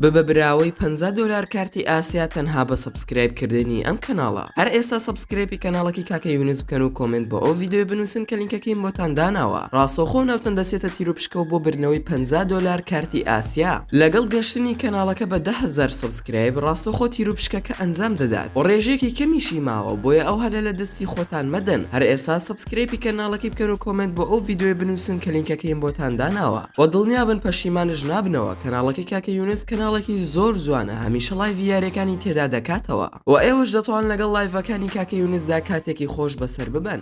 ببە براوەی پەنجا دۆلار کارتی ئاسیا تەنها بە سەبسکرایب کردنی ئەم کەناڵە هەر ئێستا سەبسکرەیپی کەناڵەکەی کاکە یونس بکەن و کۆمێنت بۆ ئەو ڤیدیۆیە بنووسن کە لینکەکەیم بۆتان داناوە ڕاستەوخۆ ناوتان دەچێتە تیروپشکەوە بۆ بردنەوەی پەنجا دۆلار کارتی ئاسیا لەگەڵ گەشتنی کەناڵەکە بە دە هەزار سەبسکرایب ڕاستەوخۆ تیروپشکەکە ئەنجام دەدات و ڕێژەیەکی کەمیشی ماوە بۆیە ئەو هەلە لە دەستی خۆتان مەدەن هەر ئێستا سکرەیپی کەناڵەکەی بکەن و کۆمێنت بۆ ئەو ڤیدۆیە بنوسن کە لینکەکەیم بۆتان داناوە وە دڵنیابن پەشیمانش نابنەوە کەناڵەکەی کاکە یونس کەناڵێکی زۆر جوانە هەمیشە ڵایڤی یاریەکانی تێدا دەکاتەوە وە ئێوەش دەتوان لەگەڵ ڵایڤەکانی کاکە یونسدا کاتێکی خۆش بەسەر ببەن.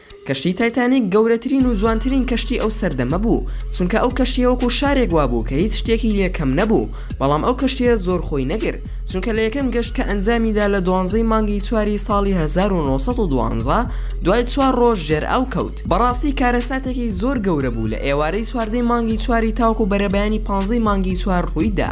کەشتی تایتانیک گەورەترین و جوانترین کەشتی ئەو سەردەمە بوو، چونکە ئەو کەشتیە وەکو شارێک وابوو کە هیچ شتێکی لێ کەم نەبوو، بەڵام ئەو کەشتیە زۆر خۆی نەگرت، چونکە لە یەکەم گەشت کە ئەنجامی دا لە دوانزەی مانگی چواری ساڵی هەزار و نۆ سەد و دوانزە دوای چوار ڕۆژ ژێر ئاو کەوت، بەڕاستی کارەساتێکی زۆر گەورە بوو، لە ئێوارەی چواردەی مانگی چواری تاوەکو بەرەبەیانی پانزەی مانگی چوار ڕووی دا،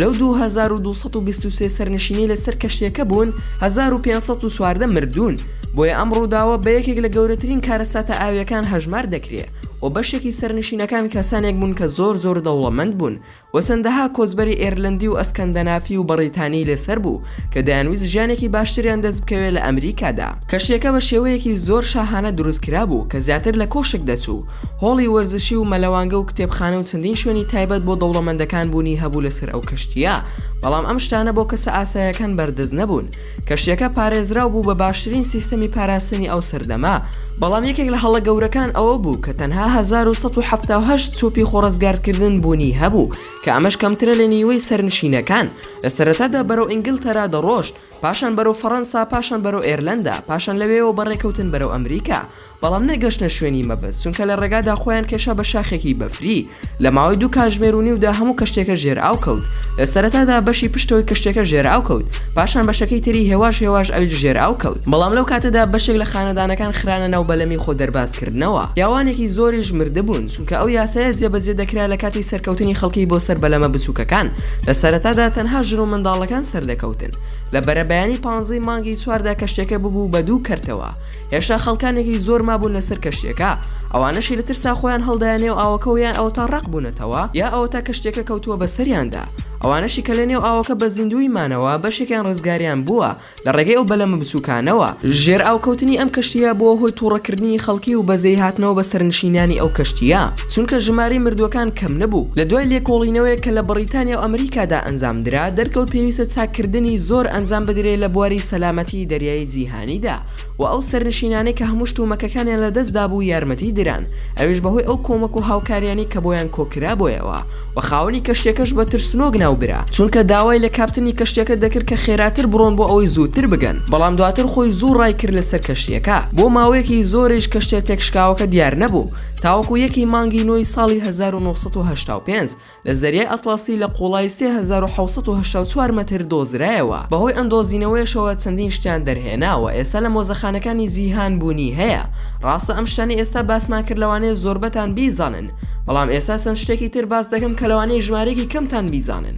لەو دوو هەزار و دوو سەد و بیست و سێ سەرنشینەی لە سەر کەشتیەکە بوون هەزار و پێنج سەد و چواردە مردوون. بۆیە ئەم ڕووداوە بە یەکێک لە گەورەترین کارەساتە ئاوییەکان هەژمار دەکرێ و بەشێکی سەرنشینەکان کەسانێک بوون کە زۆر زۆر دەوڵەمەند بوون و چەندەها کۆچبەری ئێرلەندی و ئەسکەندەنافی و بەڕیتانی لەسەر بوو کە دەیانویست ژیانێکی باشتریان دەست بکەوێ لە ئەمریکادا. کەشتییەکە بە شێوەیەکی زۆر شاهانە دروست کرا بوو کە زیاتر لە کۆشک دەچوو، هۆڵی وەرزشی و مەلەوانگە و کتێبخانە و چەندین شوێنی تایبەت بۆ دەوڵەمەندەکان بوونی هەبوو لەسەر ئەو کەشتییە، بەڵام ئەم شتانە بۆ کەسە ئاسایەکان بەردەست نەبوون، کەشتیەکە پارێزراو بوو بە باشترین سیستەمی پاراستنی ئەو سەردەمە، بەڵام یەکێک لە هەڵە گەورەکان ئەوە بوو کە تەنها هەزار و سەد و حەفتا و هەشت چۆپی خۆڕزگارکردن بوونی هەبوو کە ئەمەش کەمترە لە نیوەی سەرنشینەکان، لە سەرەتادا بەرەو ئینگلتەرا دەڕۆشت، پاشان بەرەو فەڕەنسا، پاشان بەرەو ئێرلەندا، پاشان لەوێیەوە بە ڕێکەوتن بەرەو ئەمریکا. بەڵام نەگەشتنە شوێنی مەبەست، چونکە لە ڕێگادا خۆیان کێشا بە شاخێکی بەفری، لە ماوەی دوو کاتژمێر و نیودا هەموو کەشتیەکە ژێر ئاو کەوت، لە سەرەتادا بەشی پشتەوەی کەشتیەکە ژێر ئاو کەوت، پاشان بەشەکەی تری هێواش هێواش ئەویش ژێر ئاو کەوت، بەڵام لەو کاتەدا بەشێک لە خانەدانەکان خرانە ناو بەلەمی خۆ دەرباز کردنەوە، پیاوانێکی زۆریش مردبوون، چونکە ئەو یاسایە جێبەجێ دەکرا لە کاتی سەرکەوتنی خەڵکی بۆ سەر بەلەمە بچووکەکان، لە سەرەتادا تەنها ژن و منداڵەکان سەردەکەوتن، لە بەرەبەیانی پانزەی مانگی چواردا کەشتیەکە ببوو بە دوو کەرتەوە، هێشتا خەڵکانێکی زۆر مابوون لەسەر کەشتیەکە ئەوانەشی لە ترسا خۆیان هەڵدایە نێو ئاوەکەوە یان ئەوەتا ڕەق بوونەتەوە یا ئەوەتا کەشتیەکە کەوتووە بەسەریاندا ئەوانەشی کە لە نێو ئاوەکە بە زیندووی مانەوە بەشێکیان ڕزگاریان بووە لە ڕێگەی ئەو بەلەمە بچووکانەوە. ژێر ئاو کەوتنی ئەم کەشتیە بووە هۆی توڕە کردنی خەڵکی و بەزەی هاتنەوە بە سەرنشینانی ئەو کەشتیە چونکە ژمارەی مردووەکان کەم نەبوو لە دوای لێکۆڵینەوەیەک کە لە بەڕیتانیا و ئەمریکادا ئەنجام درا دەرکەوت پێویستە چاک کردنی زۆر ئەنجام بدرێ لە بواری سەلامەتی دەریایی جیهانیدا و ئەو سەرنشینانەی کە هەموو شت و مەکەکانیان لە دەست دابوو یارمەتی دران ئەویش بەهۆی ئەو کۆمەک و هاوکاریانەی کە بۆیان کۆکرا بۆیەوە و خاوەنی کەشتیەکەش بە ترسنۆک ناوبرا چونکە داوای لە کاپتنی کەشتیەکە دەکرد کە خێراتر بڕۆن بۆ ئەوەی زووتر بگەن بەڵام دواتر خۆی زوو ڕای کرد لەسەر کەشتیەکە بۆ ماوەیەکی زۆریش کەشتیە تێکشکاوەکە دیار نەبوو تاوەکو یەکی مانگی نۆی ساڵی هەزار و نۆ سەد و هەشتا و پێنج لە زەریای ئەتڵەسی لە قوڵایی سێ هەزار و حەوت سەد و هەشتا و چوار مەتر دۆزرایەوە، بەهۆی ئەم دۆزینەوەیەشەوە چەندین شتیان دەرهێناوە ئێستا لە مۆزەخانەکانی جیهان بوونی هەیە، ڕاستە ئەم شتانەی ئێستا باسمان کرد لەوانەیە زۆربەتان بیزانن، بەڵام ئێستا چەند شتێکی تر باس دەکەم کە لەوانەیە ژمارەیەکی کەمتان بیزانن.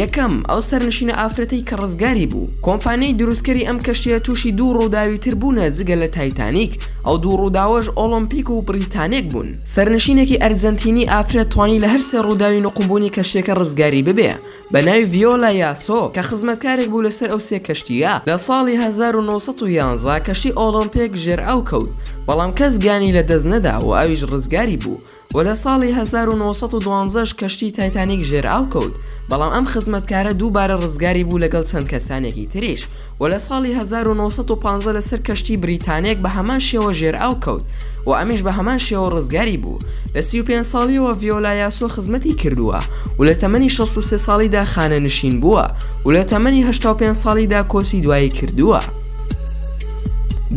یەکەم، ئەو سەرنشینە ئافرەتەی کە ڕزگاری بوو، کۆمپانیای دروستکەری ئەم کەشتییە تووشی دوو ڕووداوی تر بوونە جگە لە تایتانیک، ئەو دوو ڕووداوەش ئۆڵۆمپیک و بریتانێک بوون، سەرنشینێکی ئەرجەنتینی ئافرەت توانی لە هەر سێ ڕووداوی نوقمبوونی کەشتییەکە ڕزگاری ببێ بە ناوی ڤیۆلا یاسۆ کە خزمەتکارێک بوو لەسەر ئەو سێ کەشتییە لە ساڵی هەزار و نۆ سەد و یازدە کەشتی ئۆڵۆمپێک ژێر ئاو کەوت بەڵام کەس گیانی لە دەست نەدا و ئەویش ڕزگاری بوو و لە ساڵی هەزار و نۆ سەد و دوازدە ش کەشتی تایتانیک ژێر ئاو کەوت بەڵام ئەم خزمەتکارە دووبارە ڕزگاری بوو لەگەڵ چەند کەسانێکی تریش و لە ساڵی هەزار و نۆ سەد و پازدە لە سەر کەشتی بریتانیەک بە هەمان شێوە ژێر ئاو کەوت و ئەمیش بە هەمان شێوە ڕزگاری بوو. لە سی و پێنج ساڵیەوە ڤیۆلا یاسۆ خزمەتی کردووە و لە تەمەنی شەست و سێ ساڵیدا خانەنشین بووە و لە تەمەنی هەشتا و پێنج ساڵیدا کۆچی دوایی کردووە.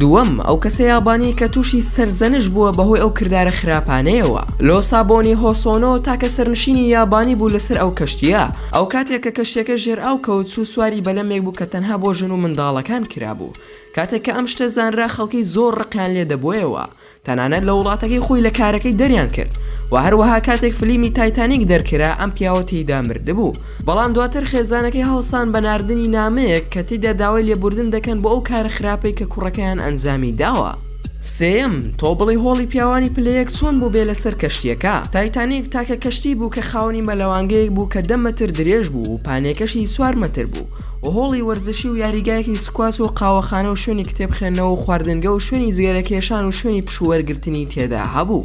دووەم، ئەو کەسە یابانیەی کە تووشی سەرزەنشت بووە بەهۆی ئەو کردارە خراپانەیەوە. لۆسابۆنی هۆسۆنۆ تاکە سەرنشینی یابانی بوو لە سەر ئەو کەشتیە، ئەوکاتێک کە کەشتیەکە ژێر ئاو کەوت چوو سواری بەلەمێک بوو کە تەنها بۆ ژن و منداڵەکان کرابوو کاتێک کە ئەم شتە زانرا خەڵکی زۆر ڕقیان لێ دەبۆیەوە تەنانەت لە وڵاتەکەی خۆی لە کارەکەی دەریان کرد وە هەروەها کاتێک فلیمی تایتانیک دەرکرا ئەم پیاوە تێیدا مردبوو بەڵام دواتر خێزانەکەی هەڵسان بە ناردنی نامەیەک کە تێیدا داوای لێبوردن دەکەن بۆ ئەو کارە خراپەی کە کوڕەکەیان ئەنجامی داوە. سێیەم، تۆ بڵێی هۆڵی پیاوانی پلە یەک چۆن بوو بێ لەسەر کەشتیەکە؟ تایتانیک تاکە کەشتی بوو کە خاوەنی مەلەوانگەیەک بوو کە دە مەتر درێژ بوو و پانێکەشی چوار مەتر بوو و هۆڵی وەرزشی و یاریگایەکی سکواچ و قاوەخانە و شوێنی کتێب خوێندنەوە و خواردنگە و شوێنی جگەرە کێشان و شوێنی پشوو وەرگرتنی تێدا هەبوو.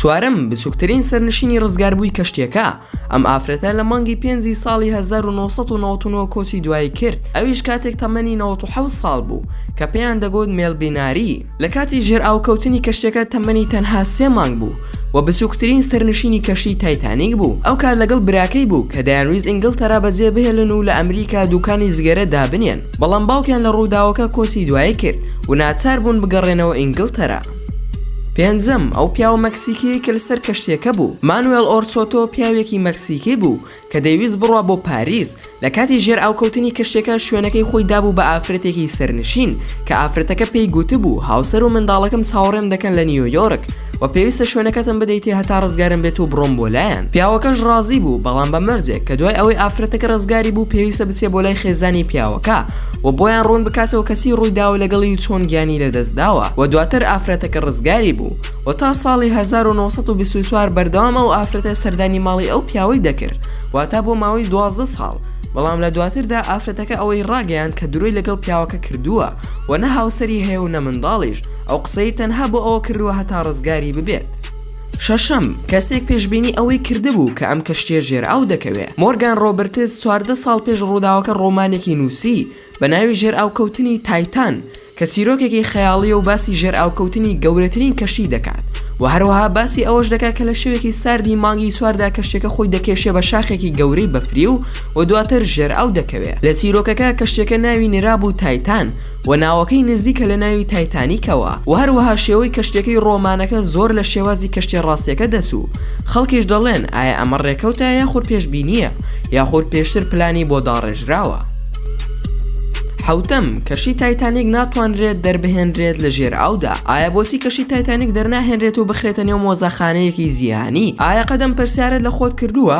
چوارەم بچووکترین سەرنشینی ڕزگاربووی کەشتیەکە، ئەم ئافرەتە لە مانگی پێنجی ساڵی هەزار و نۆ سەد و نەوەد و نۆ کۆچی دوایی کرد، ئەویش کاتێک تەمەنی نەوەد و حەوت ساڵ بوو، کە پێیان دەگوت مێلبیناری. لە کاتی ژێرئاوکەوتنی کەشتیەکە تەمەنی تەنها سێ مانگ بوو و بچووکترین سەرنشینی کەشتی تایتانیک بوو، ئەو کات لەگەڵ براکەی بوو کە دەیانویست ئینگڵتەرا بەجێبهێلن و لە ئەمریکا دووکانی جگەرە دابنێن، بەڵام باوکیان لە ڕووداوەکە کۆچی دوایی کرد و ناچار بوون بگەڕێنەوە ئینگڵتەرا. پێنجەم، ئەو پیاوە مەکسیکیەی کە لەسەر کەشتیەکە بوو، مانوێل ئۆرچۆتۆ پیاوێکی مەکسیکی بوو کە دەیویست بڕوا بۆ پاریس، لە کاتی ژێرئاوکەوتنی کەشتیەکە شوێنەکەی خۆی دابوو بە ئافرەتێکی سەرنشین کە ئافرەتەکە پێی گوتبوو هاوسەر و منداڵەکەم چاوەڕێم دەکەن لە نیویۆرک و پێویستە شوێنەکەتم بدەیتێ هەتا ڕزگارم بێت و بڕۆم بۆ لایان پیاوەکەش ڕازی بوو بەڵام بە مەرجێک کە دوای ئەوەی ئافرەتەکە ڕزگاری بوو پێویستە بچێ بۆ لای خێزانی پیاوەکە و بۆیان ڕوون بکاتەوە کە چی ڕوویداوە لەگەڵی و چۆن گیانی لەدەستداوە و دواتر ئافرەتەکە ڕزگاری بوو و تا ساڵی هەزار و نۆ سەد و بیست و چوار بەردەوام ئەو ئافرەتە سەردانی ماڵی ئەو پیاوەی دەکرد واتە بۆ ماوەی دوازدە ساڵ بەڵام لە دواتردا ئافرەتەکە ئەوەی ڕاگەیاند کە درۆی لەگەڵ پیاوەکە کردووە و نە هاوسەری هەیە و نە منداڵیش ئەو قسەی تەنها بۆ ئەوە کردووە هەتا ڕزگاری ببێت. شەشەم، کەسێک پێشبینی ئەوەی کردبوو کە ئەم کەشتییە ژێرئاو دەکەوێ. مۆرگان ڕۆبرتس چواردە ساڵ پێش ڕووداوەکە ڕۆمانێکی نووسی بە ناوی ژێرئاوکەوتنی تایتان کە چیرۆکێکی خەیاڵییە و باسی ژێرئاوکەوتنی گەورەترین کەشتی دەکات و هەروەها باسی ئەوەش دەکات کە لە شەوێکی ساردی مانگی چواردا کەشتیەکە خۆی دەکێشێ بە شاخێکی گەورەی بەفری و دواتر ژێرئاو دەکەوێ. لە چیرۆکەکە کەشتیەکە ناوی نرابوو تایتان، و ناوەکەی نزیکە لە ناوی تایتانیکەوە و هەروەها شێوەی کەشتیەکەی ڕۆمانەکە زۆر لە شێوازی کەشتیە ڕاستیەکە دەچوو خەڵکیش دەڵێن ئایا ئەمە ڕێکەوتە یاخود پێشبینیە یاخود پێشتر پلانی بۆ داڕێژراوە. حەوتەم، کەشتی تایتانیک ناتوانرێت دەربهێنرێت لە ژێر ئاودا، ئایا بۆچی کەشتی تایتانیک دەرناهێنرێت و بخرێتە نێو مۆزەخانەیەکی جیهانی؟ ئایا قەت ئەم پرسیارەت لە خۆت کردووە؟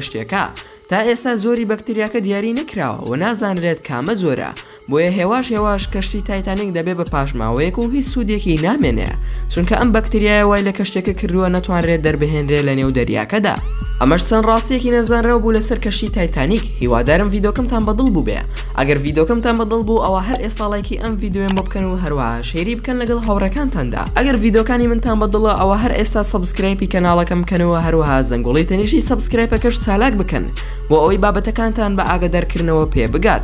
شتێکە تا ئێستا جۆری بەکتریاکە دیاری نەکراوە و نازانرێت کامە جۆرە بۆیە هێواش هێواش کەشتی تایتانیک دەبێ بە پاشماوەیەک و هیچ سودێکی نامێنێ چونکە ئەم بەکتریایە وای لە کەشتیەکە کردووە نەتوانرێت دەربهێنرێ لە نێو دەریاکەدا ئەمەش چەند ڕاستیەکی نەزانراو بوو لەسەر کەشتی تایتانیک هیوادارم ڤیدۆکەمتان بەدڵ بووبێ ئەگەر ڤیدۆکەمتان بە دڵ بوو ئەوا هەر ئێستا ڵایکی ئەم ڤیدۆیەم بۆ بکەن و هەروەها شەیری بکەن لەگەڵ هاوڕێکانتاندا ئەگەر ڤیدۆکانی منتان بە دڵە ئەوا هەر ئێستا سەبسکرایپی کەناڵەکەم بکەن و هەروەها زەنگۆڵی تەنیشتی سەبسکرایپەکەش چالاک بکەن بۆ ئەوەی بابەتەکانتان بە ئاگەدار کردنەوە پێ بگات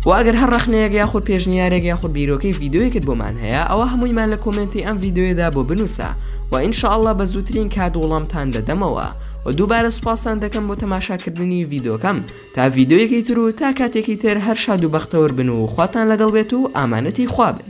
وە ئەگەر هەر ڕەخنەیەک یاخود پێشنیارێک یاخود بیرۆکەی ڤیدۆیەکت بۆمان هەیە ئەوا هەموویمان لە کۆمێنتی ئەم ڤیدۆیەدا بۆ بنووسە وە ان شاء اللە بە زووترین کات وڵامتان دەدەمەوە وە دووبارە سوپاستان دەکەم بۆ تەماشاکردنی ڤیدۆکەم تا ڤیدۆیەکی تر و تا کاتێکی تر هەر شاد و بەختەور بن و خواتان لەگەڵ بێت و ئامانەتی خوا بن.